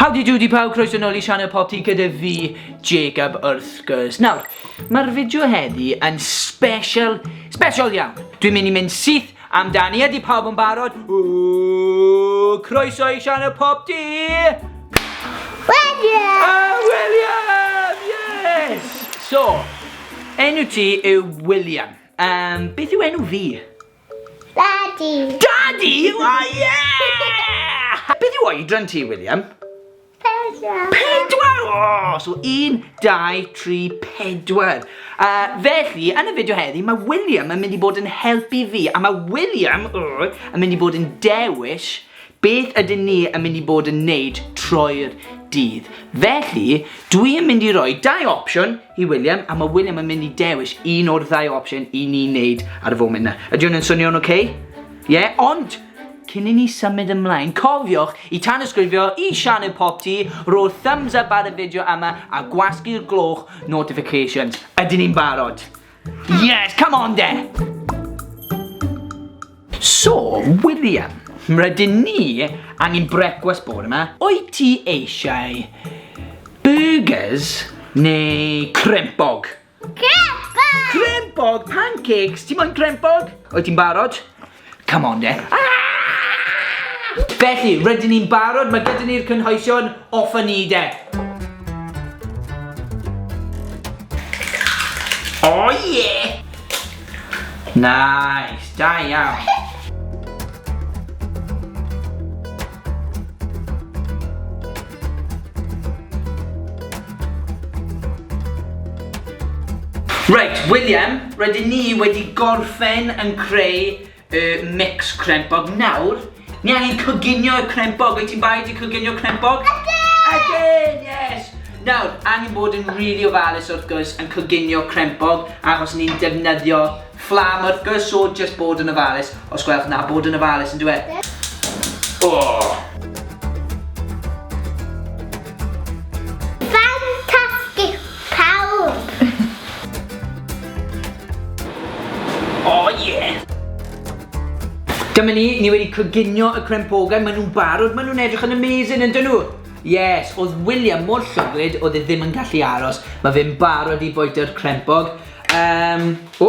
Howdy doody pawb, croeso nôl i sianel Pop Tea gyda fi, Jacob wrth gwrs. Nawr, mae'r fideo heddi yn special, special iawn. Dwi'n mynd i mynd syth amdani, ydy pawb yn barod? Ww, croeso i sianel Pop Tea! William! Ah, William! Yes! So, enw ti yw William. Um, beth yw enw fi? Daddy! Daddy! O, ie! Beth yw oedran ti, William? Pedwar! Pedwar! O! So, un, dau, tri, pedwar. Uh, felly, yn y fideo heddi, mae William yn mynd i bod yn helpu fi, a mae William uh, yn mynd i bod yn dewis Beth ydyn ni yn mynd i bod yn neud troi'r dydd? Felly, dwi yn mynd i roi dau opsiwn i William, a mae William yn mynd i dewis un o'r ddau opsiwn i ni neud ar y foment na. Ydy hwn yn swnio'n oce? Okay? Ie, yeah, ond Cyn i ni symud ymlaen, cofiwch i tanysgrifio i Sianel Pop Ti, rho thumbs up ar y fideo yma a gwasgu'r gloch notifications. Ydyn ni'n barod? Yes, come on de! So, William, rydyn ni angen brecwast bod yma. Wyt ti eisiau burgers neu crempog? Crempog! Crempog, pancakes, ti'n moyn crempog? Wyt ti'n barod? Come on de. Felly, rydyn ni'n barod, mae gyda ni'r cynhwysion, off a ni de. Oh yeah! Nice, da iawn. Reit, William, rydyn ni wedi gorffen yn creu y mix crempog nawr. Ni angen coginio y crempog, wyt ti'n baid i coginio crempog? Again! Again, yes! Nawr, angen bod yn rili really ofalus wrth gwrs yn coginio crempog achos ni'n defnyddio Fflam wrth gwrs so jyst bod yn ofalus os gwelwch na bod yn ofalus yndyw e? Oh! Dyma ni, ni wedi coginio y crempogau, maen nhw'n barod, maen nhw'n edrych yn amazing, yn dyn nhw? Yes, oedd William mor llwglyd, oedd e ddim yn gallu aros. Mae fe'n barod i boetio'r crempog. Um, o!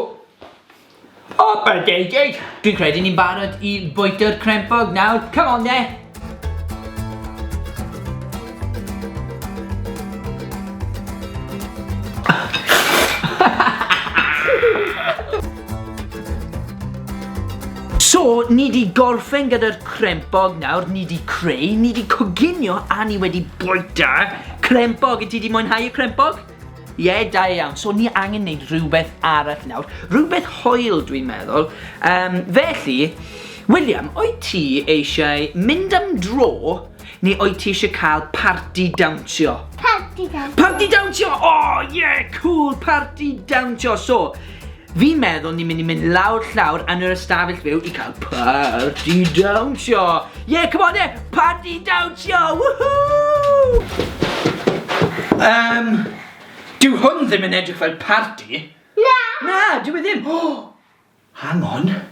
O, byrd deg deg! Dwi'n credu ni'n barod i bwyta'r crempog nawr. Come on, de! So, ni di gorffen gyda'r crempog nawr, ni di creu, ni di coginio a ni wedi bwyta crempog. Y ti di mwynhau y crempog? Ie, da iawn. So ni angen neud rhywbeth arall nawr. Rhywbeth hoel dwi'n meddwl. Um, felly, William, o'i ti eisiau mynd am dro neu o'i ti eisiau cael party dawnsio? Party dawnsio. Party dawnsio! O, oh, ie, yeah, cool, party dawnsio. So, Fi'n meddwl ni'n mynd i mynd lawr llawr yn yr ystafell fyw i cael parti dawnsio! Ie, come on then! Parti dawnsio! Woohoo! Yym, dyw hwn ddim yn edrych fel parti. Na! Na, dyw e ddim. O! Hang on.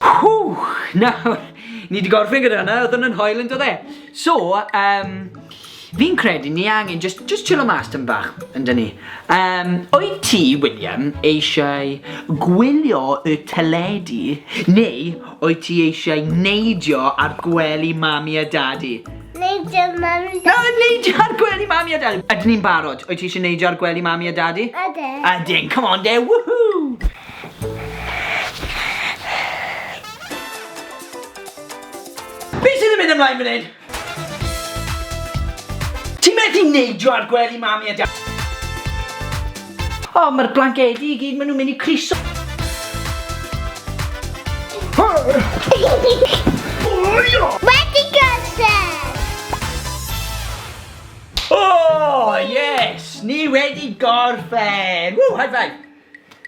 Whoo! Nawr, ni wedi gorffen gyda hwnna, oedd hwnna'n hoel yn dod e. So, um, fi'n credu ni angen just, just chillo mas tyn bach, yn dyn ni. Um, o'i ti, William, eisiau gwylio y teledu, neu o'i ti eisiau neidio ar gwely mami a dadi? Neidio ar mami a dadi. Neidio ar gwely mami a dadi. Ydyn ni'n barod? O'i ti eisiau neidio ar gwely mami a dadi? Ydyn. Ydyn, come on de, woohoo! Be sydd yn mynd ymlaen fan hyn? Ti methu neidio ar gwely mami a dad? O, mae'r blancedi i gyd, maen nhw'n mynd i criso. Wedi gosod! O, yes! Ni wedi gorffen! Ww, high five!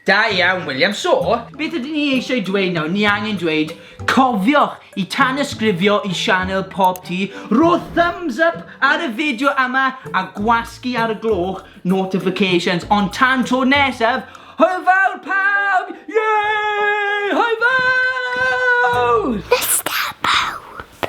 Da iawn, William. So, beth ydyn ni eisiau dweud nawr? Ni angen dweud, cofiwch i tanysgrifio i sianel Pop Tee, rho thumbs up ar y fideo yma a gwasgu ar y gloch notifications. Ond tan tro nesaf, hwyl fawr pawb! Yay! Hwyl fawr! Nesta pawb!